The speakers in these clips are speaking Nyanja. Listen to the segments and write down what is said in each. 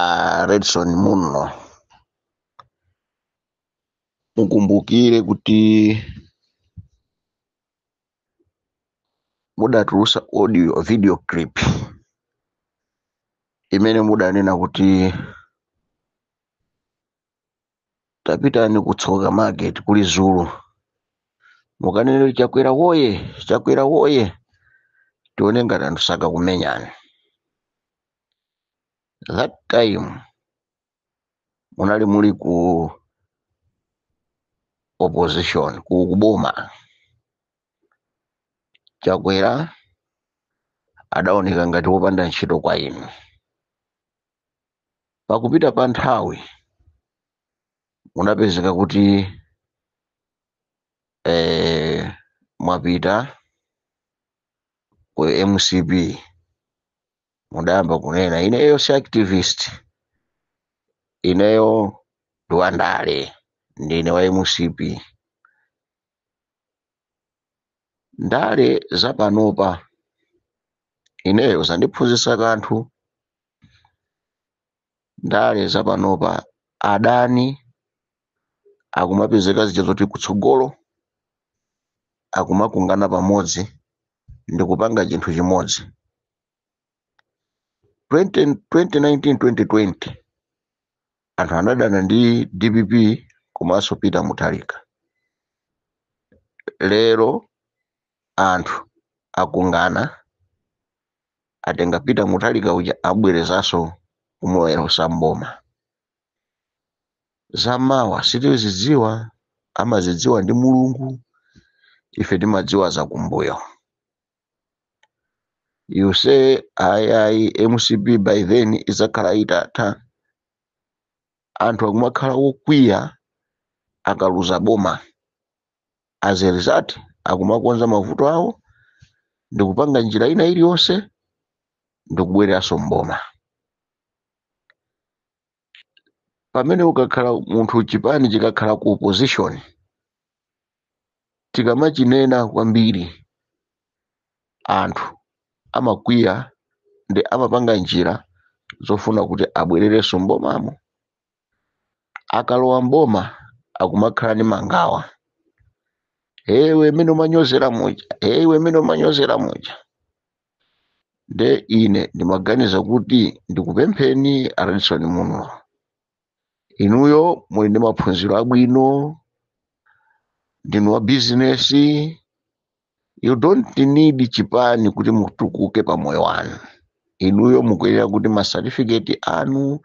a redson munlo mukumbukire kuti mudatulusa audio video clip imene mudanena kuti tapitani ku tsoka market ku lizulu mukanene chakwera woye chakwera woye tione ngati anthu sakakumenyani that time munali muli ku opposition ku kuboma chakwera adaoneka ngati wopanda ntchito kwa inu pakupita pa nthawi munapezeka kuti eh, mwapita ku mcp mudayamba kunena ineyo si activist ineyo ndi wandale ndine wa mcp ndale zapanopa ineyo zandiphunzitsa kanthu ndale za panopa adani akumapezeka zija zoti kutsogolo akumakungana pamodzi ndi kupanga chinthu chimodzi 20, 2019 2020 anthu anadana ndi dpp komanso peter mutharika lero anthu akungana atenga peter mutharika uja abwerezanso kumulowetsa mboma zamawa sitizidziwa amazidziwa ndi mulungu ife timadziwa zakumbuyo you say ayayi mcp by then idzakhala itatha anthu akumakhala wokwiya akaluza boma as a result akumakonza mavuto awo ndikupanga njira ina iliyonse ndikubwereranso mboma pamene ukakhala munthu chipani chikakhala ku opposition tikamachinena kwambiri anthu amakwiya ndi amapanga njira zofuna kuti abwererenso mbomamo akalowa m'boma akumakhala ndi mangawa iwe mmene umanyozera muja iwe mmene umanyozera muja nde ine ndimaganiza kuti ndikupempheni a redson munlo inuyo muli ndi maphunziro abwino ndinu wa bizinesi you don't need chipani kuti mutukuke pa moyo wanu inuyo mukuyenera kuti ma certificate anu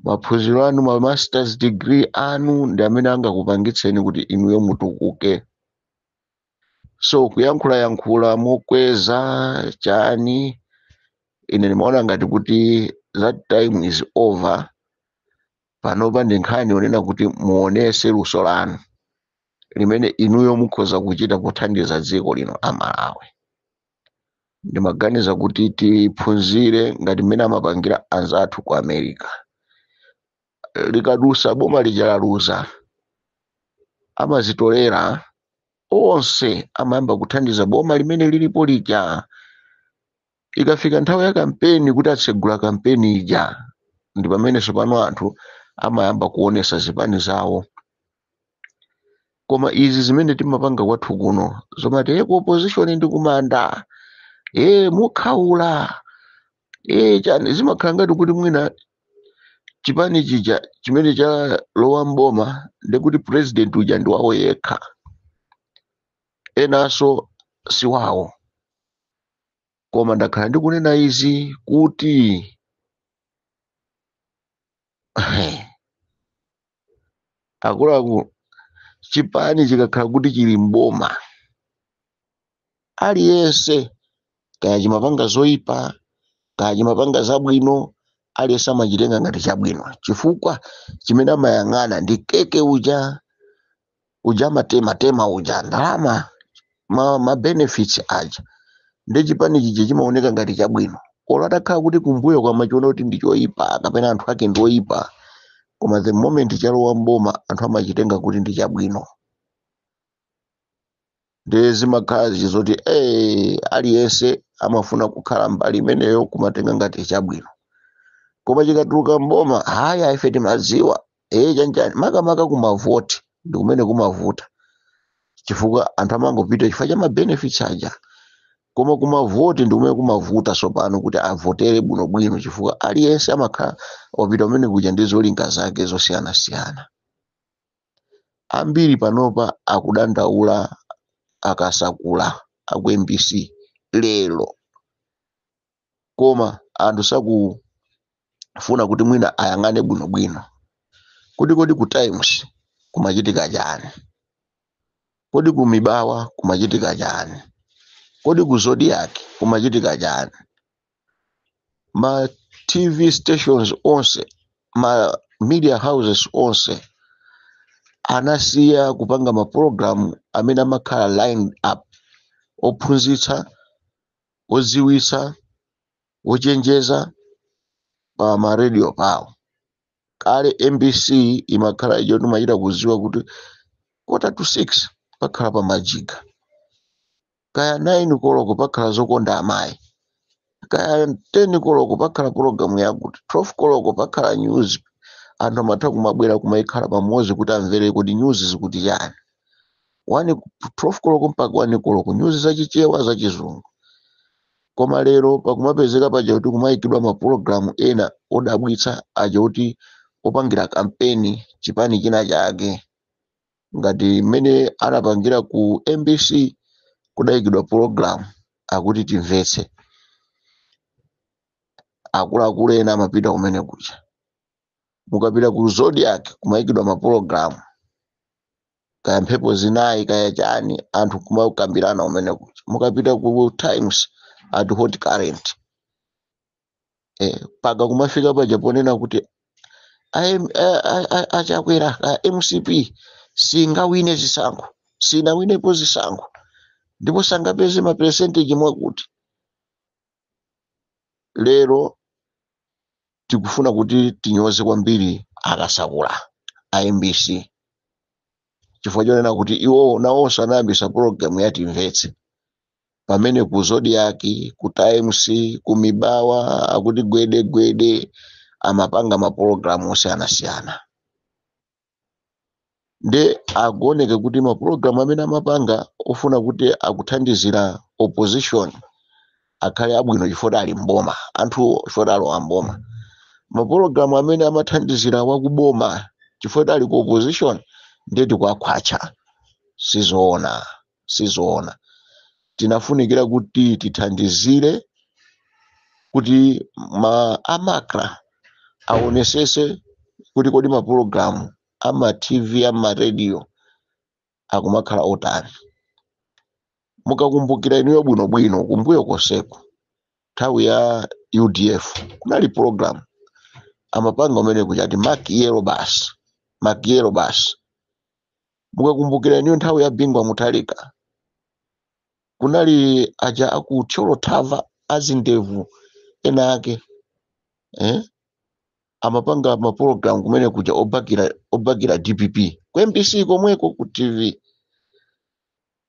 maphunziro anu ma masters degree anu ndi amene angakupangitseni kuti inuyo mutukuke so kuyankhula yankhula mokweza chani ine ndimaona ngati kuti that time is over panopa ndi nkhani yonena kuti muonetse luso lanu limene inuyo mukhoza kuchita pothandiza dziko lino a malawi ndimaganiza kuti tiphunzire ngati mmene amapangira anzathu ku america likadusa boma lija laluza amazitolera onse amayamba kuthandiza boma limene lilipo lija ikafika nthawi ya kampeni kuti atsegula kampeni ija ndi pamene tsopano anthu amayamba kuonetsa zipani zawo koma izi zimene timapanga kwathu kuno zomati e ku opposition ndi kumanda e mukhaula e chani zimakhala ngati kuti mwina chipani chija chimene chalowa mboma ndekuti president uja ndi wawo yekha enanso si wawo koma ndakhala ndikunena izi kuti akuluakulu chipani chikakhala kuti chili mboma aliyense kaya chimapanga zoyipa kaya chimapanga zabwino aliyense amachitenga ngati chabwino chifukwa chimene amayang'ana ndi keke uja uja amatema tema uja ndalama ma benefits aja ndi chipani chija chimaoneka ngati chabwino olo atakhala kuti kumbuyo amachiona kuti ndi choyipa kapena anthu ake ndi oyipa koma the moment chalowa mboma anthu amachitenga kuti ndi chabwino ndiye zimakhala zoti eh, aliyense amafuna kukhala mbali imeneyo kumatenga ngati chabwino koma chikatuluka mboma haya ife timadziwa ee chanjani makamaka kumavoti ndi kumene kumavuta chifukwa anthu amangopita chifukwa cha mabenefits aja koma kumavoti ndi kumene kumavuta tsopano kuti avotere bwinobwino chifukwa aliyense amakhala wapita kumene kuja ndi zolinga zake zosiyanasiyana ambiri panopa akudandaula akasakula aku mbc lero koma anthu sakufuna kuti mwina ayang'ane bwinobwino kuti kodi ku times kumachitika chani kodi ku mibawa kumachitika chani kodi ku zodiak kumachitika chani ma tv stations onse ma media houses onse anasiya kupanga mapulogalamu amene amakhala line up ophunzitsa odziwitsa ochenjeza pa maradio pawo kale mbc imakhala ijo timachita kuziwa kuti kota to 6 pakhala pa majiga kaya 9 koloko pakhala zokonda amayi kaya 10 koloko pakhala pologalamu yakuti 12 koloko pakhala news anthu amatha kumabwera kumayikhala pamodzi kuti amvere kuti news zikuti chani 12 koloko mpaka 1 koloko news zachichewa zachizungu koma lero pakumapezeka paja kuti kumayikidwa mapulogalamu ena odabwitsa aja kuti opangira kampeni chipani china chake ngati mmene anapangira ku mbc kudayikidwa pologalamu akuti timvetse akuluakulu ena amapita kumene kuja mukapita ku zodiak kumayikidwa mapologalamu kaya mphepo zinayi kaya chani anthu kumakambirana kumene kuja mukapita ku times ati hot current eh, mpaka kumafika paja ponena kuti aim- a- a- a- achakwera ka mcp singawine zisankho sinawinepo zisankho ndipo sangapeze maperesenteji mwakuti lero tikufuna kuti tinyoze kwambiri akasakula a mbc chifukwa chonena kuti iwowo nawonso anayambisa pologalamu yatimvetse pamene ku zodiak ku times ku mibawa akuti gwede gwede amapanga mapulogalamu osiyanasiyana nde akuoneke kuti mapulogalamu amene amapanga ofuna kuti akuthandizira opposition akhale abwino chifukwa ali mboma anthuwo chifukwa alowa mboma mapulogalamu amene amathandizira wakuboma chifukwa ali ku opposition nde tikuwakhwatcha sizoona sizoona tinafunikira kuti tithandizire kuti a macra aonesese kuti kodi mapulogalamu ama tv ama radio akumakhala otani mukakumbukira inuyo bwinobwino kumbuyo konseko nthawi ya udf kunali pologalamu amapanga kumene kuja ati makiyolobasi makiyolobasi mukakumbukira inuyo nthawi ya bingu wa mutharika kunali aja aku thyolo thava azindevu ena ake eh? amapanga mapologalamu kumene kuja ob- obakira dpp ku mbc komweko ku tv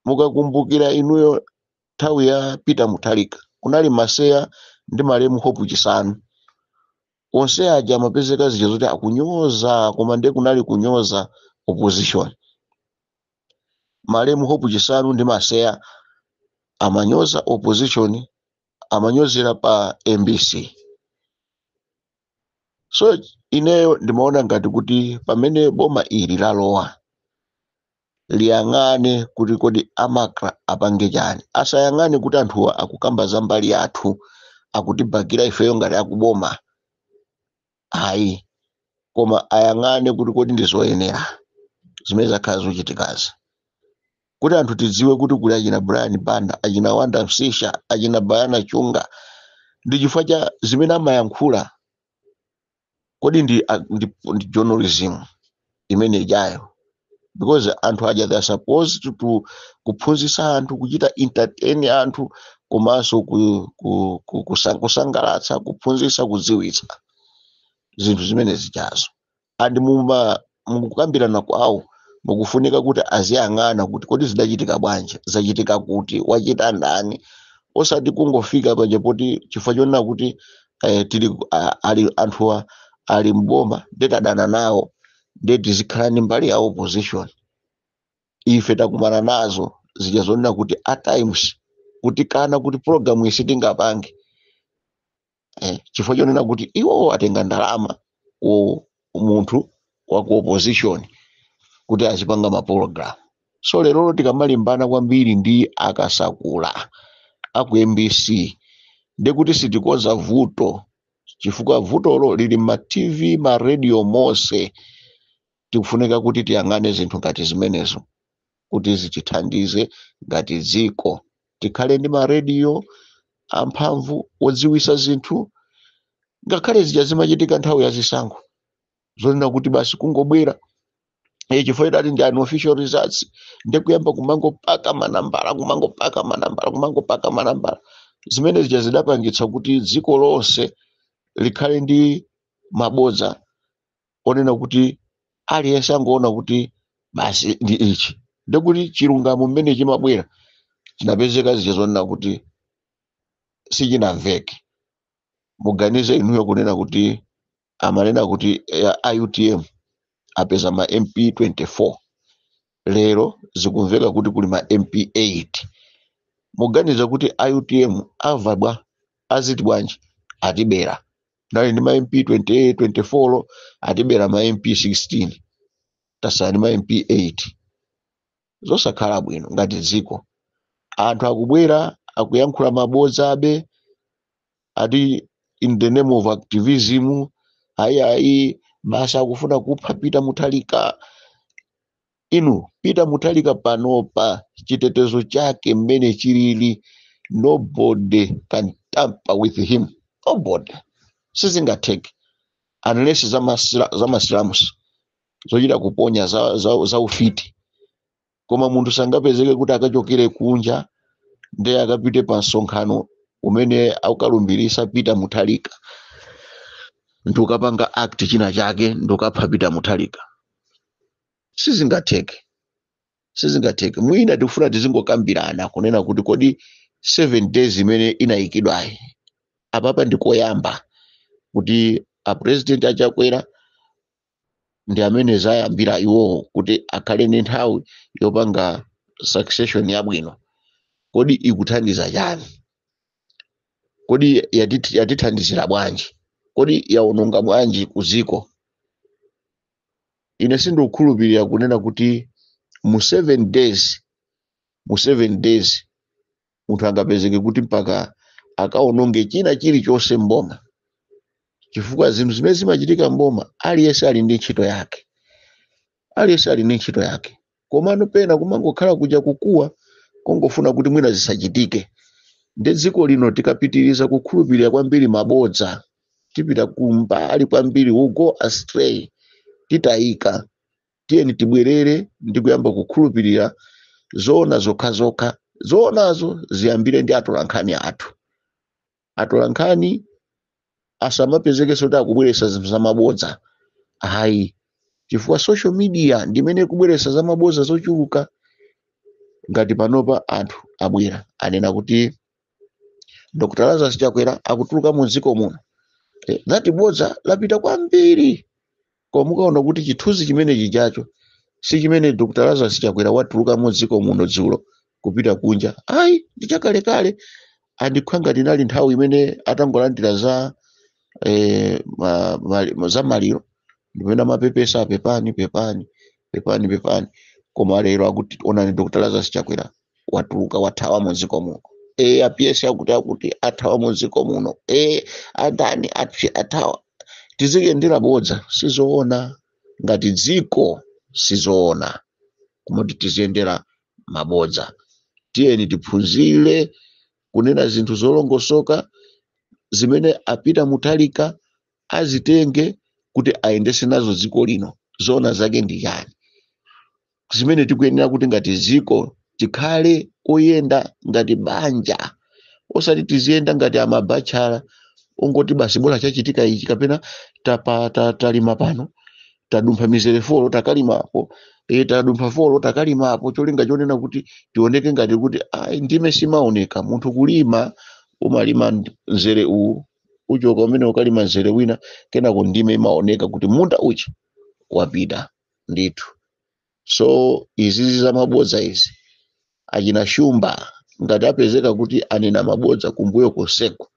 mukakumbukira inuyo nthawi ya peter mutharika kunali maseya ndi malemu hope chisanu onse aja amapezeka zija zoti akunyoza koma nde kunali kunyoza opposition malemu hope chisanu ndi maseya amanyoza opposition amanyozera pa mbc so ineyo ndimaona ngati kuti pamene boma ili lalowa liyang'ane kuti kodi a macra apange chani asayang'ane kuti anthuwa akukamba za mbali yathu akutibakira ifeyo ngati akuboma ayi koma ayang'ane kuti kodi ndi zoyenera zimene zakhala zikuchitikazi kuti anthu tidziwe kuti kuli achina brian banda achina wonder msiska achina bayana chunga ndi chifukwa cha zimene amayankhula kodi ndi, a- ndi, ndi journalism imene ijayo because anthu aja they are supposed to, to kuphunzitsa anthu kuchita entertain anthu komanso ku, ku, ku, kusa- kusangalatsa kuphunzitsa kudziwitsa zinthu zimene zijazo and muma mukukambirana kwawo mukufunika kuti aziyang'ana kuti kodi zidachitika bwanji zachitika kuti wachita ndani osati kungofika paja poti chifukwa chonena kuti eh, tili a- ali anthuwa ali mboma nde tadana nawo nde tizikhala ndi mbali ya opposition ife takumana nazo zija zonena kuti at times kutikana kuti program iyi sitingapange eh, chifukwa chonena kuti iwo atenga ndalama ku munthu wa ku opposition kuti azipanga mapologalamu so lerolo tikamalimbana kwambiri ndi akasakula a ku mbc ndekuti sitikonza vuto chifukwa vutolo lili m'ma tv ma radio monse tikufunika kuti tiyang'ane zinthu ngati zimenezo kuti zitithandize ngati dziko tikhale ndi marediyo amphamvu odziwisa zinthu ngakhale zija zimachitika nthawi ya zisankho zonena kuti basi kungobwera Eh, chifukwa adati ndi unofficial results ndikuyamba kumangopaka manambala kumangopaka manambala kumangopaka manambala zimene zija zidapangitsa kuti dziko lonse likhale ndi mabodza onena kuti aliyense angoona kuti basi ndi ichi ndikuti chilungamo mmene chimabwera chinapezeka zija zonena kuti sichinamveke muganize inuyo kunena kuti amanena kuti a utm apeza ma mp 24 lero zikumveka kuti kuli ma mp 8 muganize kuti a utm amva bwa aziti bwanji atibera tinali ndi ma mp 28 24 atibera ma mp 16 tasala ndi ma mp 8 zosakhala bwino ngati dziko anthu akubwera akuyankhula mabodza abe ati in the name of activism ayi ayi basi akufuna kupha pita muthalika Inu Peter Muthalika panopa chitetezo chake mmene chilili nobody can tamper with him nobody sizingatheke unless za masilamusi zochita kuponya za ufiti koma munthu sangapezeke kuti akachokere kunja ndiye akapite pa msonkhano umene akalumbirisa Peter Muthalika nkukapanga act china chake nkukapha Peter Muthalika sizingatheke sizingatheke mwina tikufuna tizingokambirana kunena kuti kodi 7 days imene inayikidwayi apapa ndikoyamba kuti apresident achakwera ndi amene yayambira iwowo kuti akhale ndi nthawi yopanga succession yabwino kodi ikuthandiza chani kodi yati- yatithandizira bwanji kodi yaononga bwanji ku dziko ine sindikukhulupirira kunena kuti mu 7 days mu 7 days munthu angapezeke kuti mpaka akaononge china chilichonse mboma chifukwa zinthu zimene zimachitika mboma aliyense ali ndi ntchito yake aliyense ali ndi ntchito yake komano pena kumangokhala kuja kukuwa kongofuna kuti mwina zisachitike ndiye dziko lino tikapitiriza kukhulupirira kwambiri mabodza tipita kumbali kwambiri we go astray titayika tiyeni tibwerere ndi kuyamba kukhulupirira zoona zokhazokha zoonazo ziyambire ndi atolankhani athu atolankhani asamapezekenso kuti akubweretsa zinthu zamabodza ayi chifukwa social media ndi imene ikubweretsa zamabodza zochuluka ngati panopa anthu abwera anena kuti dr lazarus chakwera akutuluka mu dziko muno that bodza lapita kwambiri koma mukaona kuti chithunzi chimene chijacho si chimene dr lazarus chakwera watuluka mu dziko muno dzulo kupita kunja ayi ndi chakalekale and ikukhala ngati inali nthawi imene atangolandira za eh, ma, ma, ma, za maliro ndipamene amapepesa apepani pepani pepani pepani koma lero akuti onani dr lazarus chakwera watuluka wathawa mu dziko muno e a ps akuti akuti athawa mu dziko muno e adani a ps athawa tiziyendera bodza sizoona ngati dziko sizoona kumati tiziyendera mabodza tiyeni tiphunzire kunena zinthu zolongosoka zimene a peter mutharika azitenge kuti ayendese nazo dziko lino zoona zake ndi chani zimene tikuyenera kuti ngati dziko tikhale oyenda ngati banja osati tiziyenda ngati amabachala ongoti basi bola chachitika ichi kapena tapa, ta, talima pano tadumpha mizere folo takalimapo e, tadumpha folo takalimapo cholinga chonena kuti tioneke ngati kuti ayi ndime simaoneka munthu kulima umalima ndi- mzere uwu uchoka umenewu ukalima mzere wina kenako ndime imaoneka kuti munda uja wapita ndithu so izizi za mabodza izi achina shumba ngati apezeka kuti anena mabodza kumbuyo konseku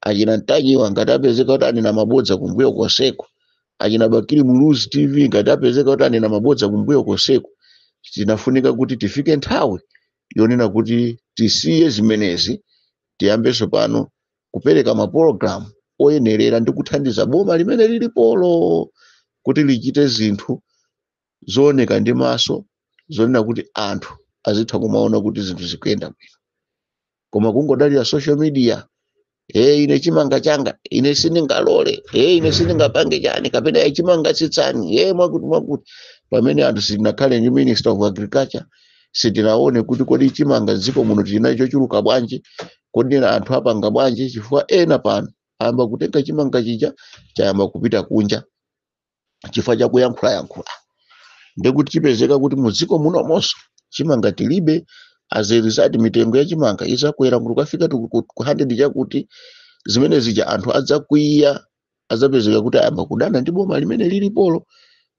achina ntanyiwa ngati apezeka kuti anena mabodza kumbuyo konseku achina bakili muluzi tv ngati apezeka kuti anena mabodza kumbuyo konseku tinafunika kuti tifike nthawi yonena kuti tisiye zimenezi tiyambenso pano kupereka mapulogalamu oyenerera ndi kuthandiza boma limene lilipolo kuti lichite zinthu zooneka ndi maso zonena kuti anthu azitha kumaona kuti zinthu zikuyenda bwino koma kungodalira social media e ine chimanga changa ine sindingalole e ine sindingapange chani kapena e chimanga tsitsani e mwakuti mwakuti pamene anthu sitinakhale ndi minister of agriculture sitinaone kuti kodi chimanga dziko muno tinacho chochuluka bwanji kodi ena anthu apanga bwanji chifukwa ena pano ayamba kutenga chimanga chija chayamba kupita kunja chifukwa cha kuyankhulayankhula ndekuti tipezeka kuti mu dziko munomonso chimanga tilibe as a result mitengo ya chimanga izakwera kuti kukafika ku ku ku 100 chakuti zimene zija anthu adzakwiya adzapezeka kuti ayamba kudana ndi boma limene lilipolo